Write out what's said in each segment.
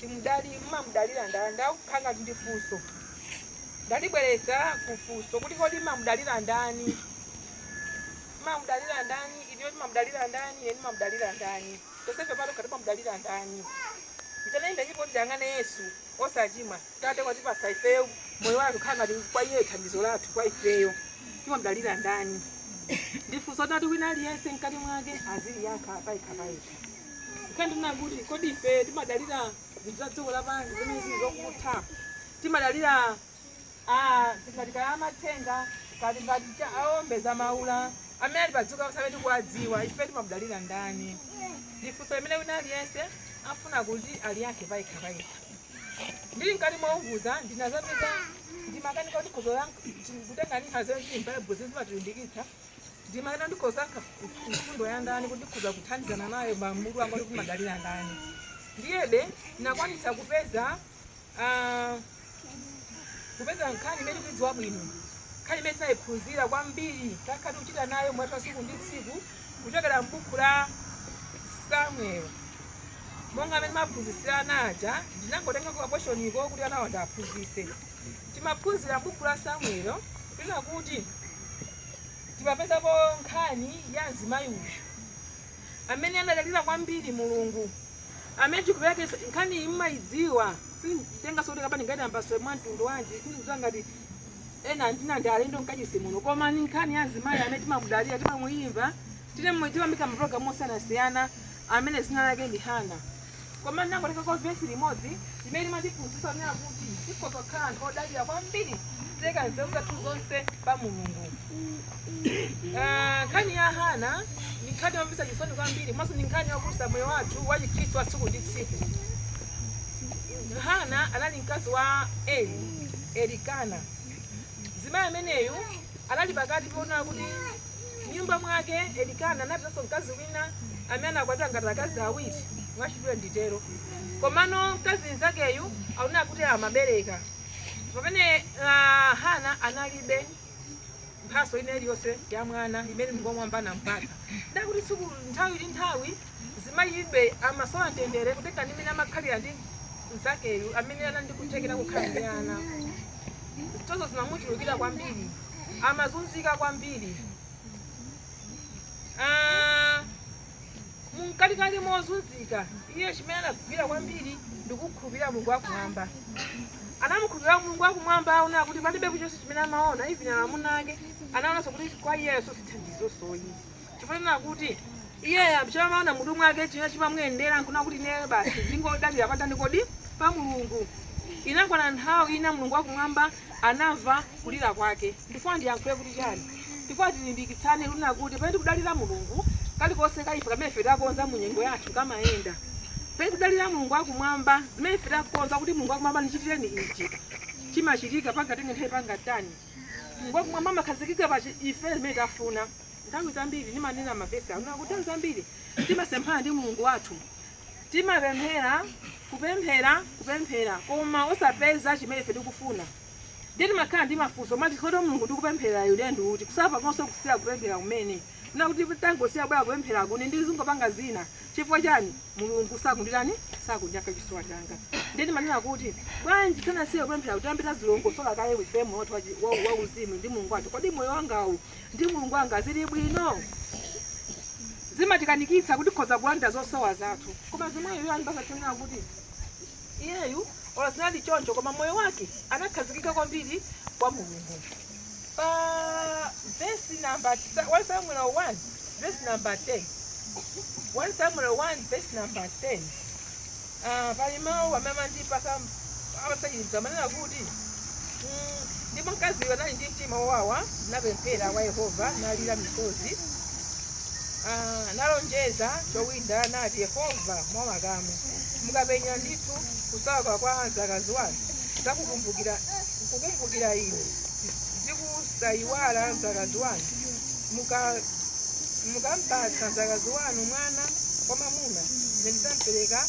kuti mmamudalira ndani ndakhala ngati ndi funso ndalibwereza ku funso kuti kodi mmamudalira ndani mmamudalira ndani ineyo timamudalira ndani ine ndimamudalira ndani tonsefe patokha timamudalira ndani mtene ndipo kuti tiyang'ane yesu osachimwa tate watipatsa ifeyo moyo wathu khala ngati kwa iye thandizo lathu kwa ifeyo timamudalira ndani ndifunso tati wina aliyense mkati mwake aziliyankha payekha payekha Kapena kuti kodi ife timadalira zinthu za dziko lapansi zimene zili zokutha. Timadalira ah, ngati kaya amatsenga ngati ngati cha- aombeza maula amene ali pa dziko lapansi amene tikuwadziwa ife timamudalira ndani? Ndi funso limene wina aliyense afunika kuti aliyankhe payekha payekha. ndili mkati mounguza ndinazapeza ndimakanika kuti ndikhoza kutenga nkhani ziti mbaibulo zimene zimatilimbikitsa ndimayenera ndikasankhe mfundo ya ndani kuti ndikhoza kuthandizana nayo mmutu wanga kuti madalira ndani ndiyebe ndinakwanitsa kupeza ah, kupeza nkhani imene tidziwa bwino nkhani imene tinayiphunzira kwambiri takhala tikuchita nayo moyo wathu wa tsiku ndi tsiku kuchokera m'buku la samuel monga amene timaphunzitsira anaja ndinangotenga kakweshoniko kuti anawo ndiwaphunzitse timaphunzira m'buku la samuel kunena kuti timapezapo nkhani ya mzimayi uyu amene anadalira kwambiri mulungu amene ndikupeka nkhani iyi mmayidziwa sinditenganso kuti kapena ngati ndiyambenso mwa mtundu wanji sindikudziwa ngati ena ena ndi alendo mkachisi muno koma ni nkhani ya mzimayi amene timamudalira timamuyimva timamudziwa m'mapulogalamu osiyanasiyana amene dzina lake ndi hana Koma ndinangotengako vesi limodzi limene limatiphunzitsa kunena kuti tikhoza kukhala anthu odalira kwambiri kupereka nzeru zathu zonse pa Mulungu. Ah, Nkhani ya Hana ndi nkhani yomvetsa chisoni kwambiri komanso ndi nkhani yokhudza moyo wathu wa Chikhristu wa tsiku ndi tsiku. Hana anali mkazi wa Eli, Elikana. Mzimayi ameneyu anali pakati ponena kuti M'nyumba mwake, Elikana anapezanso mkazi wina amene anakwatira ngati akazi awiri, mwachidule nditero. Komano mkazi mnzakeyu akuoneka kuti amabereka, pamene ah, Hana analibe mphatso ina iliyonse ya mwana imene Mulungu wamwamba anampatsa. Ndiye kuti tsiku nthawi ndi nthawi Mzimayiyu amasowa mtendere kutengera ndi mmene amakhalira ndi mnzakeyu amene anali ndi kuthekera kokhala ndi ana. Zitozo zimamuchulukira kwambiri, amazunzika kwambiri. Ah, mumkatikati mozunzika iye chimene anagwira kwambiri ndi kukhulupirira mulungu wakumwamba anamukhulupirira mulungu wakumwamba poona kuti palibe chilichonse chimene amaona even amuna ake anaonanso kuti kwa iyeyo sosithandizosoyi chifukwa chonena kuti iyeyo amene amaona m'mutu mwake chimene chimamuyendera n'kunena kuti ineyo basi ndingodalira patani kodi pa mulungu inakwana nthawi ina mulungu wakumwamba anamva kulira kwake ndifuna ndiyankhule kuti chani ndifuna tilimbikitsane kunena kuti pamene tikudalira mulungu kalikonse kaife kamene ife takonza mu nyengo yathu kamayenda pamene tikudalira mulungu wakumwamba zimene ife takonza kuti mulungu wakumwamba ndichitireni ichi chimachitika pangatenge nthawi pangatani mulungu wakumwamba amakhazikika pa chi- ife zimene tafuna Nthawi zambiri ndimanena mawu onena kuti nthawi zambiri timasemphana ndi mulungu wathu timapemphera kupemphera kupemphera koma osapeza chimene ife tikufuna ndiye timakhala ndi mafunso timati kodi mulungu tikupempherayu ndi uti kusapanganso kusiya kupemphera kumanena kuti tangosiya bwanji kupemphera kuti ndizingopanga zina chifukwa chani mulungu sakunditani sakundiyankha chosowa changa ndiye timanena kuti bwanji tisanasiye kupemphera kuti tiyambe tadzilongosola kaye ifeyo moyo wathu wachi- wa- wauzimu ndi mulungu wathu kodi moyo wangawu ndi Mulungu wanga zili bwino zimatikanikitsa kuti tikhoza kulandira zosowa zathu koma mzimayiyu anatipatsa chonena kuti iyeyu olo zinali choncho koma moyo wake anakhazikika kwambiri kwa mulungu pa vesi namba 1 samuel 1 vesi namba 10 1 samuel 1 vesi namba 10 Ah, pali mawu amene amandipasa amasangalatsa amanena kuti mm, ndipo mkaziyo anali ndi mtima wowawa napempherera kwa yehova nalira misozi ah, nalonjeza chowinda nati yehova wa makamu mukapenya ndithu kusauka kwa mdzakazi wanu zakukumbukira kukumbukira ine ziku Saiwala mdzakazi wanu. Muka mukampatsa mdzakazi wanu mwana wamwamuna, ine ndidzampereka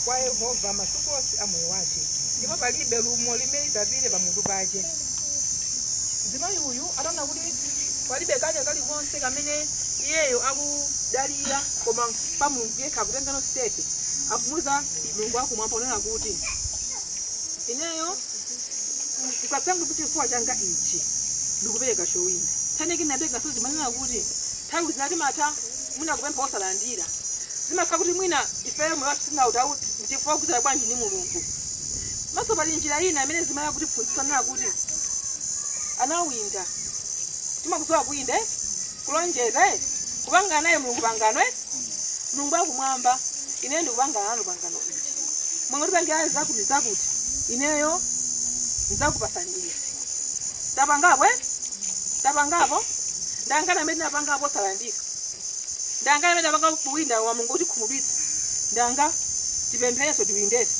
kwa Yehova masiku onse a moyo wace, ndipo palibe lumo limene lidzapite pamutu pace. Mzimayi uyu ataona kuti palibe kanthu kalikonse kamene iyeyo akudalira koma pa Mulungu yekha akutengano stepe akumuuza Mulungu wakumwamba kunena kuti ineyo mukapanga chifuniro changa ichi ndikupereka chowinda tsaniki ndinapezanso zimanena kuti nthawi zina timatha mwina kupempha osalandira zimakhala kuti mwina ifeyo moyo wathu sinautauti ndichifukwa kukudzera bwanji ndi mulungu komanso pali njira ina imene imayenera kutiphunzitsa kunena kuti anawinda timakudziwa kuwinda Kulonjeza eti? Kupangana naye Mulungu pangano eti? Mulungu wakumwamba, ineyo ndikupangana nanu pangano ili. Mukandipangira zakutizakuti, ineyo ndidzakupatsani izi. Tapangapo eti? Tapangapo? Ndi angati amene tinapangapo osalandira? Ndi angati amene tapangapo kuwinda koma Mulungu akutikhumudwitsa? Ndi anga? tipempherenso tiwindenso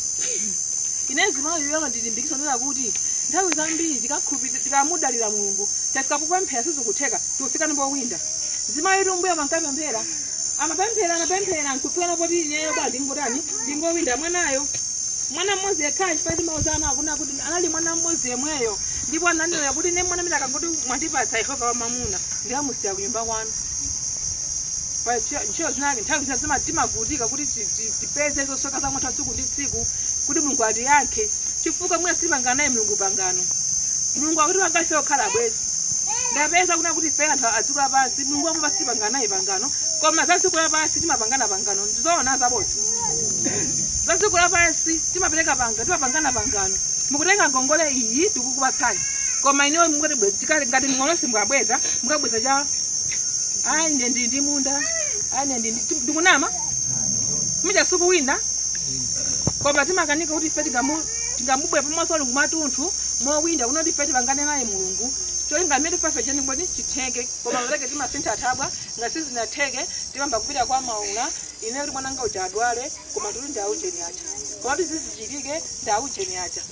ine zimayi uyu amandilimbikisa kunena kuti nthawi zambiri tikakhulupirira tikamudalira mulungu tafika popemphera sizikutheka tikufika ndipowinda zimayi m'mbuyomu ankapemphera anapemphera anapemphera nkufika napoti ineyo bwa ndingotani ndingowinda mwanayo mwana mmodzi yekhayo chifukwa timauzana kunena kuti anali mwana mmodzi yemweyo ndipo ananena kuti ine mwana amene mukangoti mwandipatsa yehova wamamuna ndikamusiya kunyumba kwanu pa ntchito ntchito zinake nthawi zina zima- timavutika kuti ti- ti- tipeze zosowa zathu tsiku ndi tsiku kuti mulungu atiyankhe chifukwa mwina sitipangana naye mulungu pangano mulungu akutipanga ife okhala bwanji ndapeza kunena kuti ife anthu adziko lapansi mulungu wakumwamba sitipangana naye pangano koma za dziko lapansi timapangana pangano ndizoona zabodza za dziko lapansi timapereka pangano timapangana pangano mukutenga ngongole iyi tikukupatsani koma ineyo mungoti bwezi tikali ngati mng'olosi mukabweza mukabweza chani ayi ine ndi ndi munda ayi ine ndi ndi- ndikunama muchasuku wina koma timakanika kuti ife tingamu- tingabwere pamaso pa mulungu kwamtunthu mowinda kunena kuti ife tipangane naye mulungu cholinga chimene tifuna ife chitani kodi chitheke koma maleke timasintha thabwa ngati sizinatheke timayamba kupita kwa maula ine kuti mwananga uja adwale koma tuli ndi aujeni aja koma kuti zizichitike ndi aujeni aja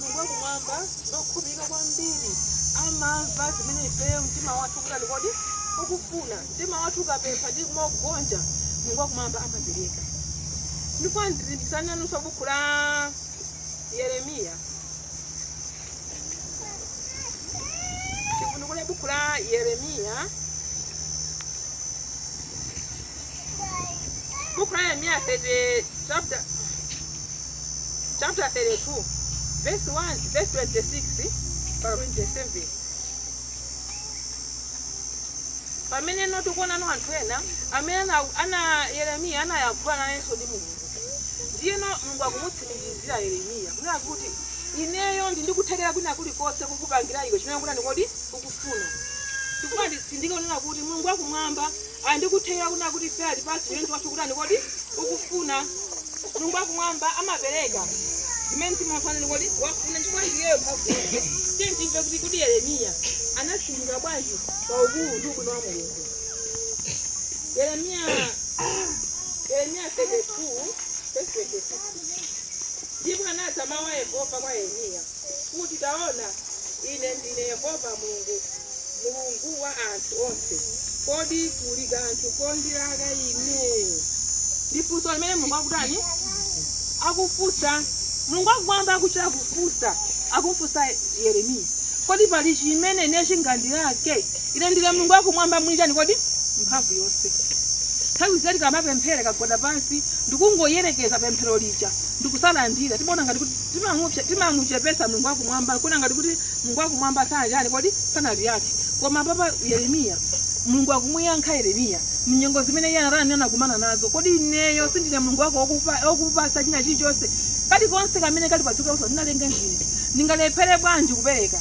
Mulungu wakumwamba ndi wokhulupirika kwambiri. Amamva zimene ifeyo mtima wathu ukutani kodi? Ukufuna. Mtima wathu ukapempha ndi kumagonja, Mulungu wakumwamba amapereka. Ndikufuna ndilimbikitsane nanunso buku la Yeremiya. Tivundukule buku la Yeremiya. buku la yeremiya chapter chapter 32 verse 1 verse 26 mpaka 27 pamene no tikuonano anthu ena amene ana, ana yeremiya anayankhula nayenso ndi mulungu ndiyeno mulungu akumutsimikizira yeremiya kunena kuti ineyo ndili ndi kuthekera kwina kulikonse kukupangira iwe chimene ukutani kodi ukufuna chifukwa nditsindike kunena kuti mulungu wakumwamba Ali ndi kuthekera kunena kuti ife atipatse chimene mtima wathu ukutani kodi ukufuna. Mulungu wa kumwamba amapereka zimene mtima wathu watani kodi wafuna chifukwa iyeyo mphamvu yonse. Tiyeni timve kuti kodi Yeremiya anatsindika bwanji pa ukulu ndi ubwino wa Mulungu. Yeremiya Yeremiya 32 verse 26 ndipo anadza mawu a Yehova kwa Yeremiya. kuti, Taona, Ine ndine Yehova Mulungu, Mulungu wa anthu onse. Kodi kuli kanthu kondilaka Ine? Ndi funso limene Mulungu akutani? Akufunsa. Mulungu akumwamba akuchita kufunsa, akumfunsa Yeremiya. Kodi pali chimene ine chingandilake? Ine ndine Mulungu akumwamba mwini chani kodi? Mphamvu yonse. Nthawi zina tikamapemphera kugwada pansi ndikungoyerekeza pemphero lija ndikusalandira timaona ngati kuti Timamuchepsa, timamuchepetsa Mulungu wa kumwamba, kuona ngati kuti Mulungu wa kumwamba sanatani kodi sanatiyankhe. Koma apapa Yeremiya Mulungu akumuyankha Yeremiya mnyengo zimene iye anatani anakumana nazo. Kodi ineyo sindine Mulungu wako wokupa- wokupatsa china chilichonse kalikonse kamene kali padziko lonse ndinalenga ndine, ndingalephere bwanji kupereka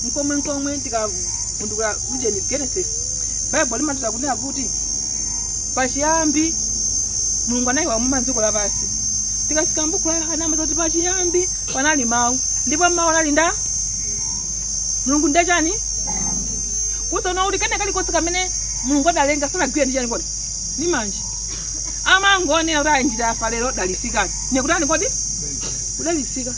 mkomwe mkomwe tikavundukula ujeni Genesis Bible limatiuza kunena kuti kuti pachiyambi mulungu analenga kumwamba dziko lapansi tikafika mbuku la yohane amatiuza kuti pachiyambi panali mawu ndipo mawu anali ndi mulungu nde chani kusonyeza kuti kene kalikonse kamene mulungu adalenga sanagwira ndi chani kodi ndi manja amangonena kuti ayinjira afa lero dalitsikani ndikutani kodi kudalitsika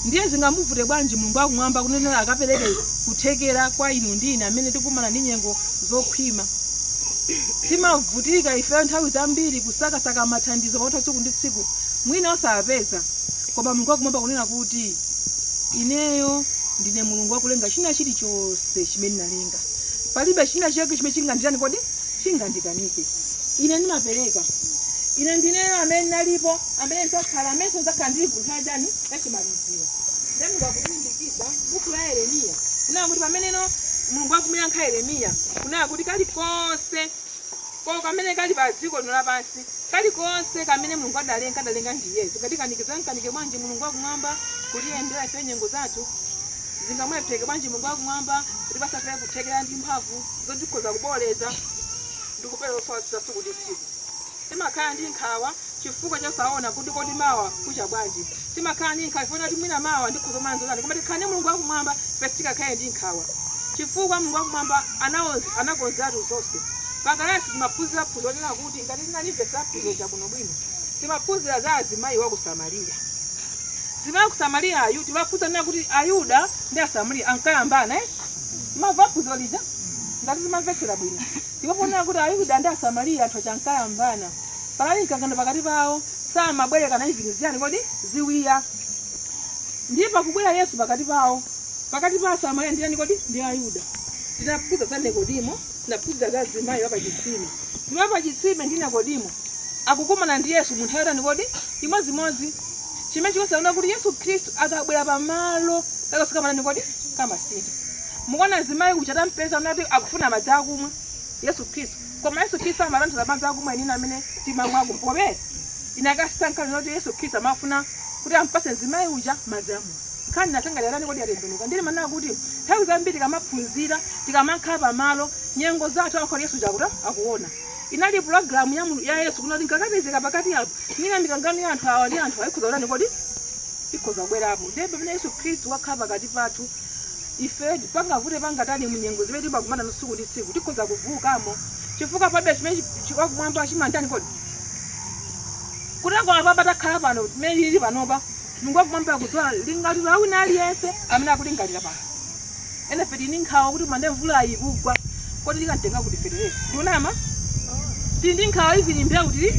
ndiye zingamuvute bwanji mulungu akumwamba kunena kuti akapereke kuthekera kwa inu ndi ine amene tikukumana ndi nyengo zokhwima timavutika ifeyo nthawi zambiri kusakasaka mathandizo pakutha tsiku ndi tsiku mwina osapeza koma mulungu wakumwamba kunena kuti ineyo ndine mulungu wakulenga china chilichonse chimene ndinalenga palibe china chake chimene chinganditani kodi chingandikanike ine ndimapereka ine ndineyo amene nalipo amene ndidzakhala amene ndidzakhala ndili ku nthawi chani yachimaliziro nde mulungu akutsindikiza buku la yeremiya kunena kuti pameneno mulungu akumuyankha yeremiya kunena kuti kalikonse ko kamene kali pa dziko lino lapansi kalikonse kamene mulungu adalenga adalenga ndiye zingatikanike zingamkanike bwanji mulungu akumwamba kutiyendera ife nyengo zathu zingamulephereke bwanji mulungu akumwamba kutipatsa ife kuthekera ndi mphamvu zotikhoza kuboola ndi kupera zosowa zathu tsiku ndi tsiku timakhala ndi nkhawa chifukwa chonena kuti kodi mawa kucha bwanji. Timakhala ndi nkhawa chifukwa choti mwina mawa ndikhoza kukumana ndi zotani. Koma tikakhala ndi Mulungu wakumwamba, ife sitingakhale ndi nkhawa chifukwa Mulungu wakumwamba anakonzeratu zonse. Pa kalasi timaphunzira phunziro lonena kuti, ngati tinalimvetsa phunziro lija bwinobwino, timaphunzira za mzimayi wa ku Samariya. Mzimayi wa ku Samariyayu timaphunzira zonena kuti Ayuda ndi Asamariya ankayambana. eh? Timamva phunziro lija ngati timamvetsera bwino. Ndipo ponena kuti Ayuda ndi Asamariya anthu aja ankayambana. Panali mkangano pakati pawo, samabwerekana zinthu ziyani kodi ziwiya. Ndiye pakubwera Yesu pakati pawo, pakati pa Asamariya ndiyani kodi ndi Ayuda. Tinaphunzira za Nikodimo, tinaphunzira za mzimayi wa pachitsime. Mzimayi wa pachitsime ndi Nikodimo akukumana ndi Yesu mu nthawi yotani kodi imodzimodzi, chimene chikutanthauza kuti Yesu Khristu akabwera pamalo kakonse kamatani kodi kamasintha. Mukuona mzimayi uja atampeza nati akufuna madzi akumwa Yesu Khristu. Koma Yesu Khristu amatanthauza madzi akumwa enieni amene timamwa ku mpope? Inakasintha nkhani zoti Yesu Khristu amafuna kuti ampatse mzimayi uja madzi a moyo. Nkhani inatani kodi yatembenuka? Ndiye ndimanena kuti nthawi zambiri tikamaphunzira, tikamakhala pa malo, nyengo zathu amafuna kuti Yesu uja akuta akuona. Inali program ya Mulungu ya Yesu kunena kuti nkakapezeka pakati apa, mwina mikangano ya anthu awa ndi anthu awa ikhoza kutani kodi? Ikhoza kubwerapo. Ndiye pamene Yesu Khristu wakhala pakati pathu, Ife, pangavute pangatani mu nyengo zimene timakumana nazo tsiku ndi tsiku, tikhoza kutulukamo chifukwa palibe chimene chi- chi- wakumwamba chimamutani kodi kutengwa apapa takhala pano mmene tili panopa mulungu wakumwamba akudziwa lingaliro la wina aliyense amene akulingalira pano ena ife tili ndi nkhawa kuti man'de mvula ikugwa kodi tikamutenga kuti fetereza ndikunama tili ndi nkhawa ivini mbewu tili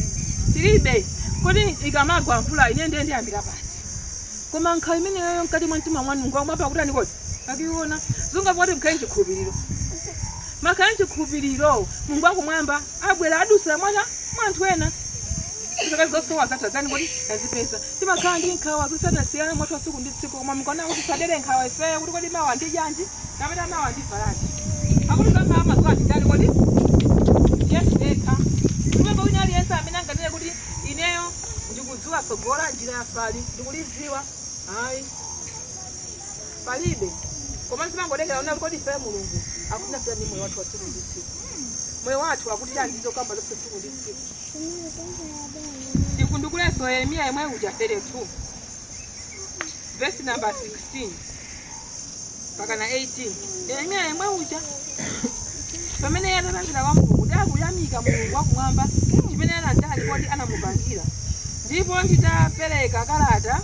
tilibe kodi ikamagwa mvula ine ndiye ndiyambira pati koma nkhawa imeneyoyo mkati mwa mtima mwanu mulungu wakumwamba akutani kodi akuiona akungofuna kuti mukhale mchikhulupiriro mukakhala mchikhulupiriro mulungu wakumwamba abwera adutsira mwina mwa anthu ena zaka zosowa zathu adzani kodi azipeza timakhala ndi nkhawa zosiyanasiyana moyo wathu wa tsiku ndi tsiku koma mulungu anakuti tisadere nkhawa ifeyo kuti kodi mawa ndidyanji kapena mawa ndivalanji akuti zakumawa amadziwa ndi ndani kodi yesu yekha kumwamba wina aliyense amene anganene kuti ineyo Dziwa tsogolo langa njira ya patali ndikulidziwa? Ayi. Palibe. Koma zimangotengera kunena kuti kodi ifeyo Mulungu akufuna chani ndi moyo wathu wa tsiku ndi tsiku. Moyo wathu akuti chani ndi zokamba zathu tsiku ndi tsiku. Tivundukulenso Yeremiya yemwe uja 32 vesi namba 16. mpaka na 18 yeremiya yemwe uja pamene iye anapemphera kwa mulungu ndi akuyamika mulungu wakumwamba chimene anatani kodi anamupangira ndipo nditapereka kalata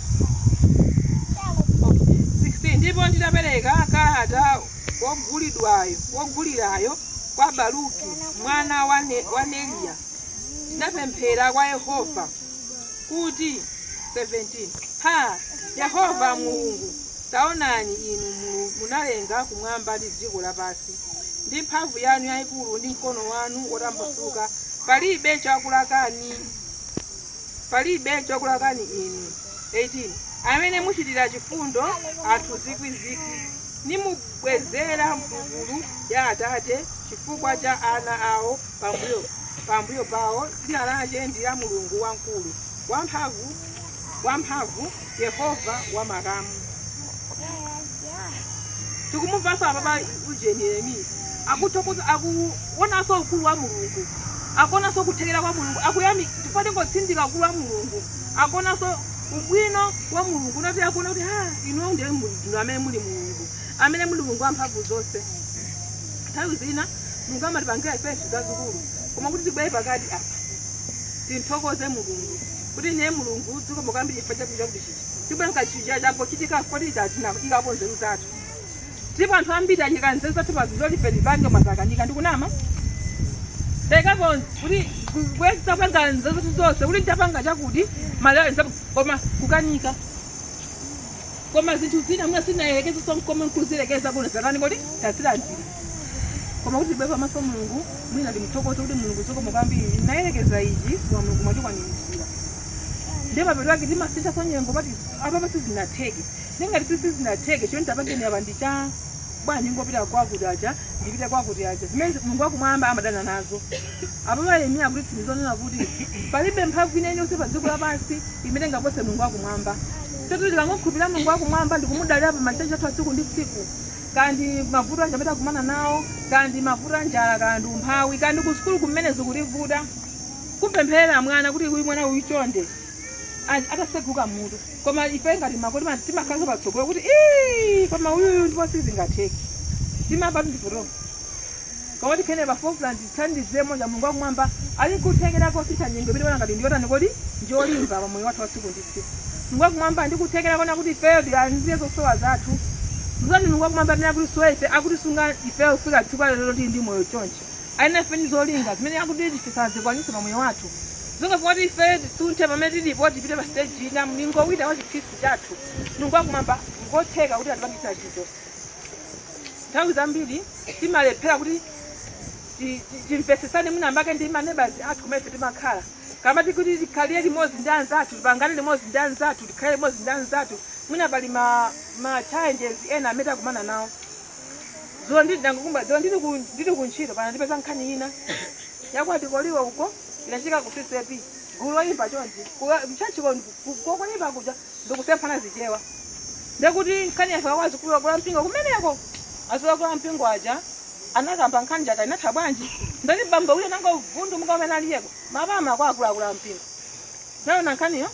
16 ndipo nditapereka kalata wogulidwayo wogulirayo kwa baruki mwana wa Ne- wa neriya ndinapemphera kwa yehova kuti, 17 Ha, Yehova Mulungu, taonani, inu mulu- munalenga kumwamba ndi dziko lapansi ndi mphamvu yanu yayikulu ndi mkono wanu wotambasuka. Palibe chakulakani, palibe chakulakani inu. 18 amene muchitira chifundo anthu zikwizikwi nimubwezera mphulupulu ya atate chifukwa cha ana awo pambuyo pawo dzina lache ndi la mulungu wamkulu wamphamvu yehova wa makamu tikumumvatsa apapa ujeni yeremiya akuthokoza akuonanso ukulu wa mulungu akuonanso kuthekera kwa mulungu akuyamika chifukwa tingotsindika ukulu wa mulungu akuonanso ubwino wa mulungu nati akuona kuti ha inuyo ndiye muli- ndinu amene muli mulungu amene muli Mulungu wamphamvu zonse. Nthawi zina Mulungu amatipangira ife zinthu zazikulu, koma kuti tibwere pakati apa timthokoze Mulungu kuti ndiye Mulungu zikomo kwambiri chifukwa chakuti chakuti ichi tibwe mkachija changochitika kodi tinaikapo nzeru zathu ndipo anthu ambiri aika nzeru zawo pa zinthu lolife lipange koma zakanika ndikunama taikapo kuti tapanga nzeru zathu zonse kuti tapanga chakuti malaya koma kukanika koma zinthu zina mwina sitinayerekezenso nkomwe nkuziyerekeza kuti zatani kodi tazilandira koma kuti tibwere pamaso mulungu mwina ndimuthokoze kuti mulungu zikomo kwambiri ndinayerekeza ichi koma mulungu mwachikwaniritsira ndiye mapeto ake timasintha nyengo kuti apapa sizinatheke ndingati si sizinatheke chonde tapangeni apa ndichita bwanji ngopita kwakuti aja ndipite kwakuti aja zimene mulungu wakumwamba amadana nazo apapa yeremiya akutitsimikiza zonena kuti palibe mphamvu ina iliyonse pa dziko lapansi imene ingapose mulungu wakumwamba chotero tikangokhulupirira mulungu wakumwamba ndikumudalira pa machitachita athu atsiku ndi tsiku kaya ndi mavuto aja amene takumana nawo kaya ndi mavuto a njala kaya ndi umphawi kaya ndi kusukulu kumene zikutivuta kumpempherera mwana kuti uyu mwana uyu chonde a- ataseguka mutu koma ife ngati makolo ti ma- timakhalanso patsogolo kuti "Ii, koma uyuyu ndipo sizingatheke tima- apatu ndi vuto Koma kodi Kennedy Bafoukla ndi chithandizi cha Yemwe uja Mulungu wa Kumwamba ali nkuthekera kosintha nyengo imene ikuwoneka ngati ndi yotani kodi? ndi olimba pa moyo wathu wa tsiku ndi tsiku. Mulungu wa Kumwamba ali ndi kuthekera kotani kuti ifeyo tilandire zosowa zathu? Ndizowonadi Mulungu wa Kumwamba amene akutisunga ife, akutisunga ifeyo kufika tsiku la lero lino tili ndi moyo chonchi. Ali nafe ndi zolinga zimene akufuna tidzazikwanitse pa moyo wathu. Zolinga zoti ifeyo tisunthe pamene tilipo tipite pa stage ina, mlingo wina wa chikhristu chathu. Mulungu wa Kumwamba ngotheka kuti atipangire china chilichonse. nthawi zambiri timalephera kuti ti- ti- timvetsetsane mwina mwake ndi ma neighbours athu kumene ife timakhala kaya ndi kuti tikhalire limodzi ndi anzathu tipangane limodzi ndi anzathu tikhale limodzi ndi anzathu mwina pali ma, ma challenges ena amene tikukumana nawo zulo ndili ndangokumba zulo ndili ku- ndili ku ntchito panandipeza nkhani ina ya kwa Goliati uko inachitika ku ccap gulu loyimba chonchi m'tchalitchi koyimba kuja ndikusemphana zichewa ndiye kuti nkhani yafika kwa akulu akulu ampingo kumeneko akulu akulu ampingo aja anakamba nkhani ija inatha bwanji ndati bambo uyo nango vundu mukamene aliyeko mapama kwa akulu akulu ampingo naona nkhaniyo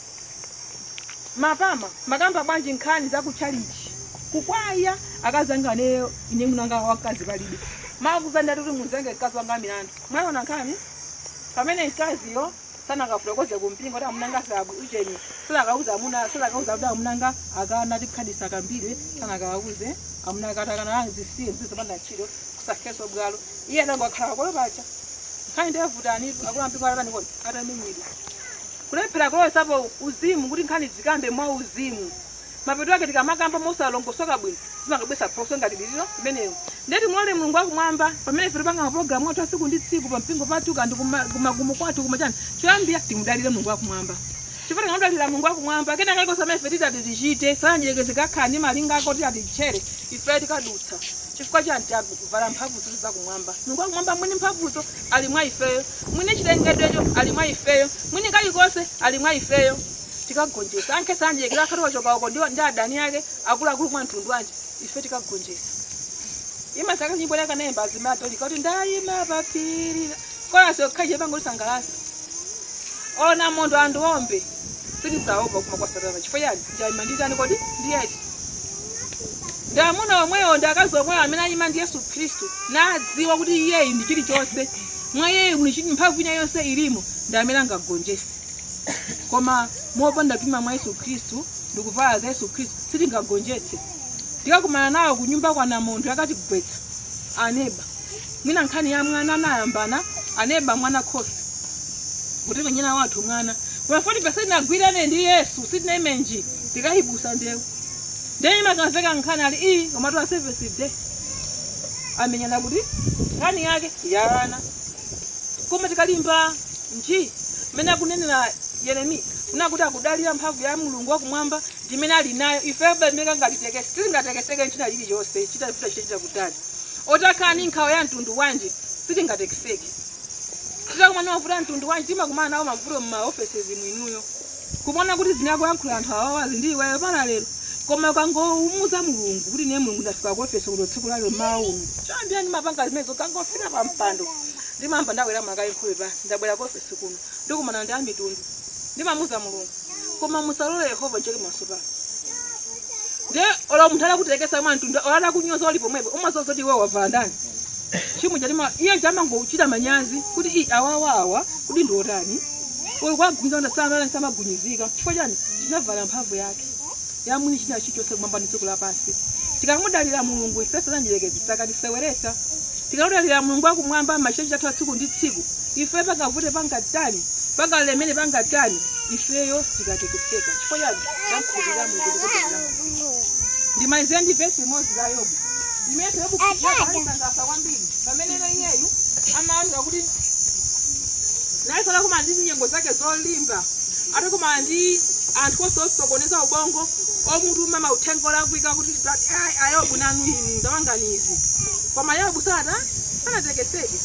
mapama makamba bwanji nkhani za kuchalichi kukwaya akazi anga aneyo ine munanga wamkazi palibe makuzandati kuti muzenge mkazi wanga milandu mwaona nkhani pamene mkaziyo sanakafotokoze ku mpingo kuti amuna anga sabu ujeni sanakauza amuna sanakauza kuti amuna anga akana kuti khadi sakambidwe sanakauze amuna akatakana anga zisiye zisiye zopanda ntchito kusakheso bwalo iye anangokhala kolo pacha nkhani ndiyavutani akulu ampingo atatani kodi atamenyedwa kulephera kulowetsapo uzimu kuti nkhani zikambidwe mwa uzimu Mapeto ake tikamakamba mosalongosoka bwino zimangobweretsa phokoso ngati lililo limenelo. Ndiye timulole Mulungu wa Kumwamba, pamene ife tipanga mapulogalamu athu a tsiku ndi tsiku pa mpingo pathu kaya ndi kuma- kumakomo kwathu kumachani, choyambira timudalire Mulungu wa Kumwamba. Chifukwa tikamudalira Mulungu wa Kumwamba, kena kalikonse kamene ife titati tichite, satana mdierekezi kakhala ndi malingaliro ake oti atitchere, ife tikadutsa. Chifukwa chani tavala mphamvu zonse za Kumwamba? Mulungu wa Kumwamba mwini mphamvuzo ali mwa ifeyo, mwini chilengedwecho ali mwa ifeyo, mwini kalikonse ali mwa ifeyo. tikagonjetsa. Angakhale satana mdierekezi akhale wachoka uko ndi, ndi adani ake akuluakulu mwa mtundu wanji, ife tikagonjetsa. Imandisangalatsa nyimbo yake anayimba azimayi a Dorika kuti ndayima pa phiri la-" kolasi yokhayo imangondisangalatsa anamondwe andiombe sindidzaopa kuuma kwa satana chifukwa chani ndayima ndi ndani kodi ndi yesu ndi amuna omwewo ndi akazi omwewo amene ayima ndi yesu khristu nadziwa kuti iyeyi ndi chilichonse mwa iyeyi muli chili mphamvu ina yonse ilimo ndi amene angagonjese koma mopanda kupima mwa yesu khristu ndi kuvala za yesu khristu sitingagonjetse tikakumana nawo kunyumba namondwe akatigwetsa aneba mwina nkhani ya mwana anayambana aneba mwana khosi kutimenyera wathu mwana koma poti sitinagwirane ndi yesu sitinaime nji tikayiputsa ndewu ndiye imakamveka nkhani ali iyi komatu a Seventh Day amenyana kuti nkhani yake ya ana Koma tikalimba nji, mmene akunenera Yeremiya, kunena kuti akudalira mphamvu ya Mulungu wakumwamba ndi imene ali nayo, ifeyo palibe kangatitekese sitingatekeseke ndi china chilichonse, chitachita chitachita kutali. Otakhala ndi nkhawa ya mtundu wanji, sitingatekeseke. Titakumana mavuto a mtundu wanji, timakumana nawo mavuto m'ma offices mu inuyo. kumaona kuti zinakuyankhula anthu awawa ali ndi iweyo pana lero koma ukangomuuza mulungu kuti ine mulungu ndafika ku ofesi kuno tsiku lalo mmawa uno choyamba ndimapanga zimenezo ndikangofika pa mpando ndimamva ndabwera ndimaika nkhope pa ndabwera ku ofesi kuno ndikumana ndi amitundu ndimamuuza mulungu koma musalole yehova nchite manyazi pano Ndiye olo munthu atakutekesa mwa mtundu olo atakunyoza uli pomwepo umadziwa kuti iwe wavala ndani. Chimu chatima iye chamangochita manyazi kuti i awawa awa kuti ndi otani. Olo kwagumiza kuti samala samagunyizika. Chifukwa chani? Tinavala mphamvu yake ya mwini china chilichonse kumwamba ndi dziko lapansi. Tikamudalira Mulungu ife Satana mdierekezi sakatiseweretsa. Tikamudalira Mulungu akumwamba machitachita athu a tsiku ndi tsiku. Ife pangavute pangatani? Pangalemere pangatani? Ifeyo sitikatekeseka. Chifukwa chani? tamkhulupirira mulungu ndikudalira mulungu ndimalize ndi vesi limodzi la yobu imenenso yobu ikundisangalatsa kwambiri pameneno iyeyu amaoneka kuti nayenso atakumana ndi nyengo zake zolimba atakumana ndi anthu onse osokoneza ubongo omutuma mauthenga olakwika kuti "Brad- ai, ayobu nanu inu ndawanganizi koma yobu sata sanatekeseke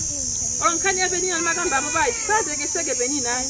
nkhani ya penina timakamba apayi sanatekeseke peninayo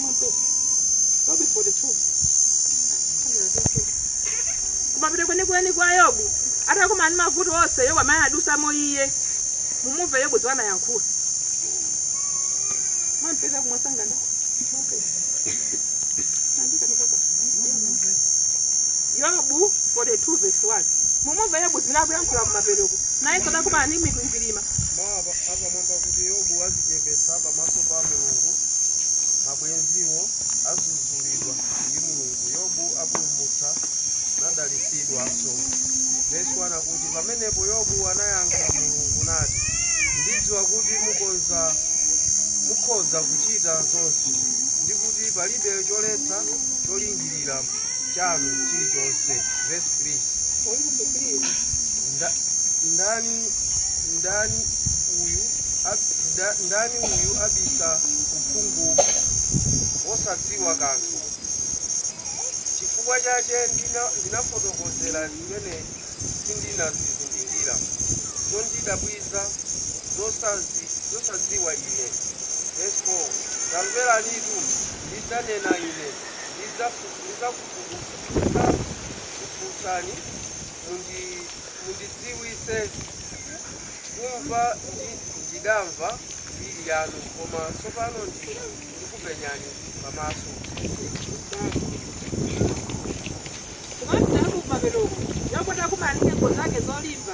kumapeto kwenikweni kwa yobu atakumana ndi mavuto onse yobu amene adutsamo iye mumumve yobu zomwe anayankhula mwampeza kumwasangana yobu 42 verse 1 mumumve yobu zimene akuyankhula kumapetoko nayenso atakumana ndi mikwingwirima mawu apa- apamwamba kuti yobu adzichepetsa pamaso pa mulungu mabwenziwo adzudzulidwa ndi mulungu yobu apulumutsa nadalitsidwanso vesi 1 akuti pamenepo yobu anayankha mulungu nati ndidziwa kuti mukonza mukhoza kuchita zonse ndi kuti palibe choletsa cholingirira cholingirira chanu chilichonse verse 3 Nda- ndani ndani uyu ab- nda- ndani uyu abisa uphungu wosadziwa kanthu chifukwa chache ndina- ndinafotokozera zimene sindinazizindikira zondidabwiza zosazi- zosadziwa ine verse 4 tamveranitu ndidzanena ine ndidzakufunsani, mundidziwitse kumva ndi ndidamva mbiri yanu, koma tsopano ndi ndikupenyani pamaso. Mwandamu pamenepo, Yobu atakumana ndi nyengo zake zolimba.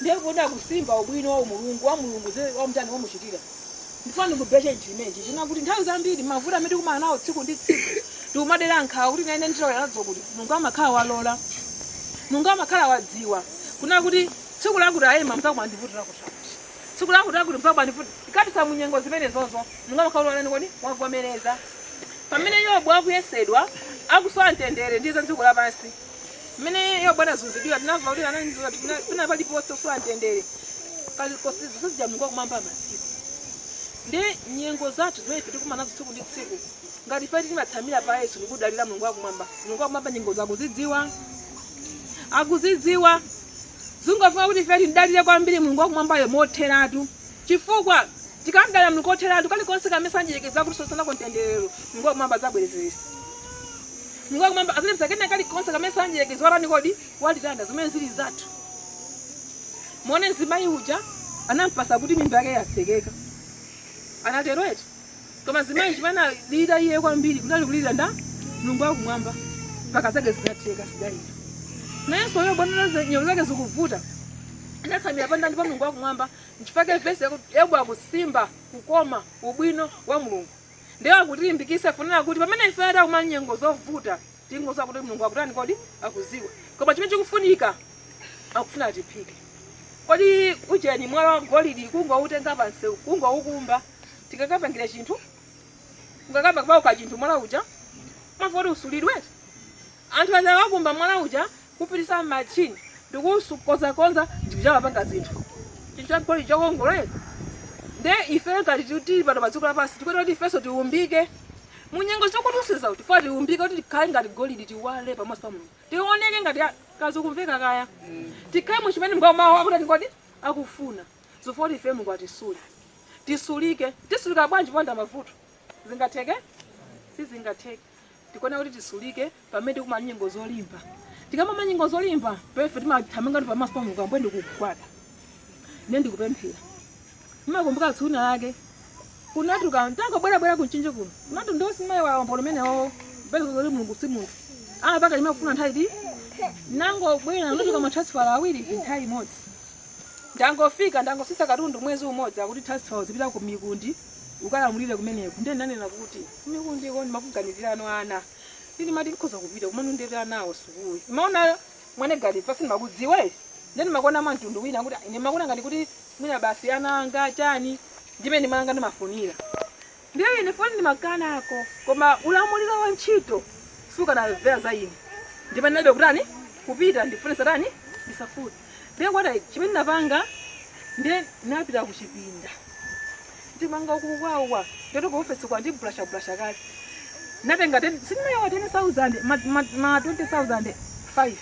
Ndiye kodi akusimba ubwino wa umulungu wa Mulungu zimene wamutani wamuchitira? Ndifuna ndikubetche chinthu chimenechi chonena kuti nthawi zambiri mavuto amene tikumana nawo tsiku ndi tsiku ndikumadera nkhawa kuti naine ndithawira nazo kuti Mulungu amakhala walola Mulungu amakhala wadziwa kunena kuti tsiku lakuti aema mudzakumana ndi vuto lakuti lakuti tsiku lakuti lakuti mudzakumana ndi vuto tikadutsa mu nyengo zimenezozo Mulungu amakhala kuti watani kodi wavomereza pamene Yobu akuyesedwa akusowa mtendere ndi za dziko lapansi mmene yobu anazunzidwira tinamva kuti ananizira pena paliponse kusowa mtendere kosizija mulungu wakumwamba amadziwa ndi nyengo zathu zimene tikumana nazo tsiku ndi tsiku ngati ife timatsamira pa yesu ndikudalira mulungu wakumwamba mulungu wakumwamba nyengozo akuzidziwa akuzidziwa zingofuna kuti ife timdalire kwambiri mulungu wakumwambayo motheratu Chifukwa, tikamdalira Mulungu kotheratu kalikonse kamene mdyerekezi kapena Satana watitengera, Mulungu wa Kumwamba adzabwezeretsa. Mulungu wa Kumwamba adzalipsa kena kalikonse kamene mdyerekezi watani kodi? Watilanda, zimene zili zathu. Muone mzimayi uja anampeza kuti mimba yake yatsekeka. Anatero eti? Koma mzimayi chimene anadalira iye kwambiri kunali kulira ndi Mulungu wa Kumwamba mpaka zake zinatheka anadalira. Nayenso Yobu anaona nyengo zake zikuvuta. Anatsamira pa ndani pa Mulungu wa Kumwamba. Nchifukwa chake vesiyi Yobu akusimba kukoma, ubwino, wa Mulungu. Ndiye akutilimbikitsa kunena kuti pamene ife takumana ndi nyengo zovuta, tingodziwa kuti Mulungu akutani kodi? Akudziwa. Koma chimene chikufunika, akufuna tiphike. Kodi ujeni mwala wa golidi kungoutenga pansi, kungoukumba, tikakapangire chinthu? Ungayambe kupanga chinthu mwala uja? Amafuna kuti usulidwe? Anthu aja akakumba mwala uja, kupititsa mmachini ndikukonzakonza ndikuyamba kupanga zinthu chinthu chagolide chokongola eti nde ife ngati tu- tili pano padziko lapansi tikuyenera kuti ifenso tiumbike munyengo zokutiusiza kuti ife tiumbike kuti tikhale ngati golidi tiwale pamaso pa mulungu tioneke ngati akazi omveka kaya tikhale ndi chimene mngomawu akuti golidi akufuna zofuna kuti ife mulungu atisule tisulike tisulika bwanji popanda mavuto zingatheke sizingatheke tikuona kuti tisulike pamene tikumana ndi nyengo zolimba tikakumana nyengo zolimba pomwe timathamangira ndi pamaso pa mulungu Ambuye ndikugwada ine ndikupemphera ndimakumbuka tsiku lina lake kunatuka ntangobwerabwera ku Mchinji kuno kunotu ndasimba umboni umenewo mbwezo zoti mulungu si munthu amapanga mmene amafuna nthawi ti ndangobwera ndinatuka matransfala awiri nthawi imodzi ndangofika ndangotsitsa katundu mwezi umodzi akuti transfer uzipita ku mikundi ukalamulire kumeneko ndiye ndanena kuti mikundi iko ndimaganizirano ana Ndimati ndikhoza kupita komano nditenga anawo sukulu. Ndimaona mwina ngati ife sindimakudziwa eti. Ndiye ndimakuona mwa mtundu wina kuti ah, ndimakuona ngati kuti mwina basi ana anga chani ndimmene ndimanga ndimafunira. Ndiye ine pondi ndimakanako koma ulamuliro wa ntchito sukanamvera za ine. Ndipo ndinayamba kutani kupita ndifune ndisatani ndisafune. ndiye kwata chimene ndinapanga ndiye ndinapita kuchipinda ndimanga kukwawa ndoto ku office kwa ndiblasha blasha kale natenga ndalamayo 10000 ma ma- ma 20000 5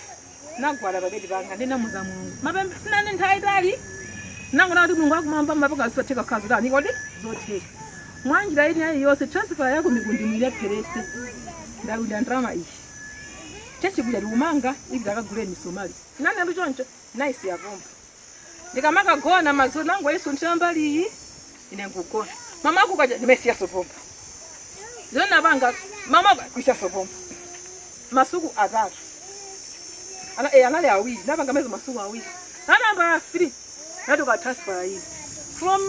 ndinagwada pabedi panga ndinamuza mulungu mapemphero sindinanene nthawi yaitali nangona kuti mulungu akumwamba mumapanga zosatheka kukhala zotani kodi zotheka mwanjira ine ayi yonse transfer yako mukundi mulepheretse ndaludya ndalama iyi chachikuya likumanga ivi ndikagule misomali nane ndiye choncho naisiya pompo ndikamakagona madzulo ndinangoyisunthira mbali iyi ine nkugona mmawa kukacha ndimaisiyaso pompo zimene napanga mmawa kuyisiyaso pompo masuku atatu ana, eh, anali awiri napanga mezi masuku awiri a number three yatuluka transfer iyi from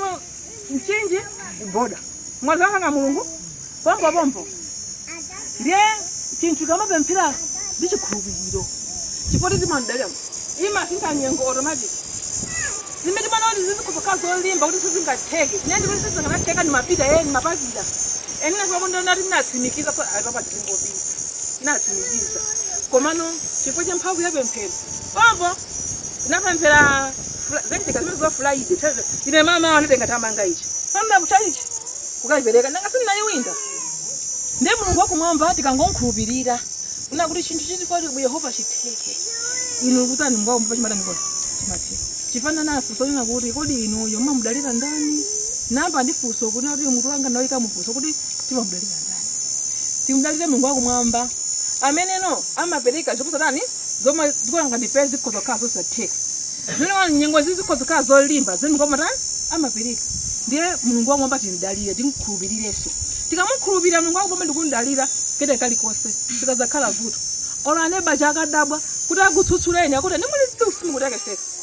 mchinji kuboda Mwanza ndi mulungu pompo pompo ndiye chinthu tikamapemphera ndi chikhulupiriro chakuti timamdalira imasintha nyengo automatic zimene timana kuti zikukhala zolimba kuti sizingatheke zimene ndikuti sizinganatheka ndi ma pitayeni mapasitala ena kumakomo kwathu ndinatsimikiza kuti apapa tizingopita ndinatsimikiza komano chifukwa cha mphamvu ya pemphero pompo tinapemphera fr- zachitika zimene za friday Thursday. ine mama awo anatenga ndalama ija pamawa kutchalitchi kukayipereka nanga sindinayiwinda ndiye mulungu wakumwamba tikangomkhulupirira kunena kuti chinthu chilichonse kwa yehova chitheke inu kutani mulungu wakumwamba chimatani kodi chimatheka ndimafuna ndifunse kunena kuti kodi inuyo mumamudalira ndani namba ndi funso kuti kuti mutu wanga ndauika mufunso kuti timamudalira ndani timudalire mulungu wakumwamba ameneno amapereka zoposa tani zomwe tikulakalaka ndipeze zikhoza kukhala zosatheka zimene nyengo izi zikhoza kukhala zolimba koma mulungu amatani amapereka ndiye mulungu wakumwamba timdalire timkhulupirirenso tikamukhulupirira mulungu wakumwamba ndikumdalira ndithu kalikonse sikazakhala vuto olo aneba adzakadabwa kuti akutsutsuleni akuti inu muli simukutekeseka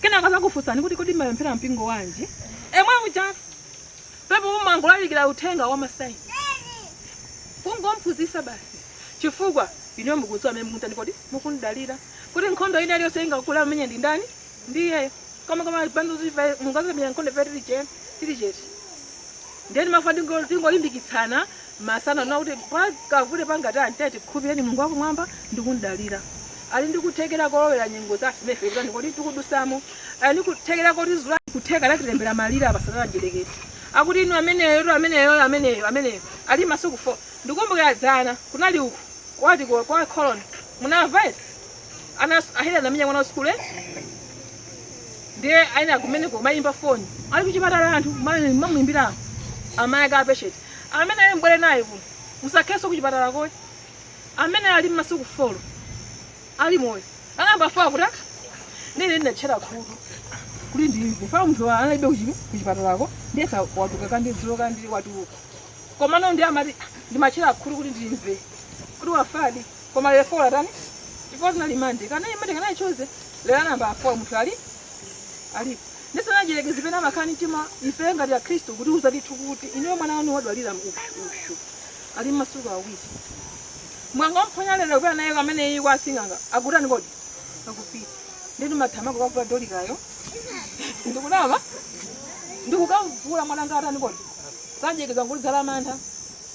Kenako azakufunsani kuti kodi mmapemphera mpingo wanji? Yemweuja pompo mumangolalikira uthenga wa ma sign. Kungomphunzitsa basi. Chifukwa inuyo mukudziwa amene mukumtani kodi? Mukumdalira. Kuti nkhondo ina iliyonse ingakule amenya ndi ndani? Ndi iyeyo. Koma koma Baibulo liti ndidzamenya nkhondo ife tili che- tili chete. Ndiye ndimafuna ndingo- tingolimbikitsana masana ano kuti pakavute pangatani tiyeni tikhulupirire Mulungu wakumwamba ndi kumdalira. Ali ndi kuthekera kolowera nyengo za zimene ife tikutani kodi tikudutsamo. Ali ndi kuthekera kotizula kutheka atatilembera malire apa satana mdierekezi. Akuti inu ameneyo tu ameneyo ameneyo ameneyo ali masuku 4. Ndikumbukira dzana kunali uku kwati kwa kwa Colon munamva eti ana ahela anamenya mwana wa sukulu eh? ndiye anali kumeneko kumayimba foni ali kuchipatala anthu amamuyimbira amayi ake a patient amene ali mbwere naye kuno musakheso kuchipatalako ayi amene ali mmasiku folo ali moyo a namba four kuti ine ndinatchera khutu kuti ndimve wafa munthu wa- analibe kuchi- kuchipatalako ndiyesa watuluka kandi dzulo kandi watuluka komano ndi amati ndimatchera khutu kuti ndimve kuti wafadi koma lero four atani chifukwa tinali mande kana imande kana i Tuesday lero a namba four munthu alipo ndi za mdyerekezi zimene amakhala mtima ife ngati akhristu kuti uzatithu kuti ineyo mwana wanu wadwala uyu ali mmasiku awiri mwanga mphonya lero kupita naye amene iye kwa sing'anga akutani kodi akupita ndeti mathama kukavula dolikayo ndikunama ndikukavula mwana ngati atani kodi mdyerekezi ngoli zala mantha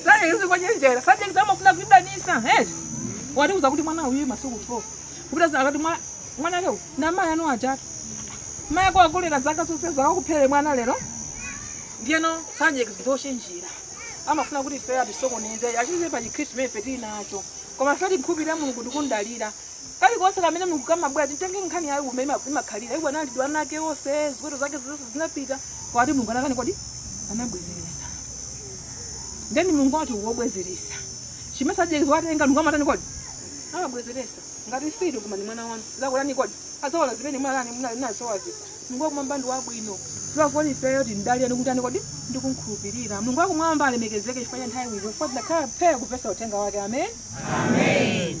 Mdyerekezi ngochenjera. Mdyerekezi amafuna kutidanisa. Eh. Watiuza kuti mwana uyu masiku 4. Kupita za akati mwa mwana leo na mayi anu ajatu. Mayi wakulera zaka zonsezi akuphere mwana lero. Ndiyeno mdyerekezi ngochenjera. Amafuna kuti ife atisokoneze. Atichotse pa Chikristu chimene ife tili nacho. Koma ife timkhulupirira Mulungu ndikumdalira. Kali konse kamene Mulungu kamabwera titenge nkhani ya Yobu mmene ima- imakhalira. Iwo anali ndi ana ake onse, ziweto zake zonse zinapita. Koma Mulungu anatani kodi? Anabwezeresa. Ndeni Mulungu wathu ngobwezeresa. Chimene mdyerekezi watenga Mulungu amatani kodi? Amabwezeresa. Ngati situ koma ndi mwana wanu. Azatani kodi? Azaona zimene munatani munasowa zija. Mulungu wakumwamba ndi wabwino. Chifukwa kodi ifeyo timdalire ndi kutani kodi? Ndi kumkhulupirira. Mulungu wakumwamba alemekezeke chifukwa cha nthawi ino chifukwa tinakhala phe kumvesa uthenga wake. Amen. Amen.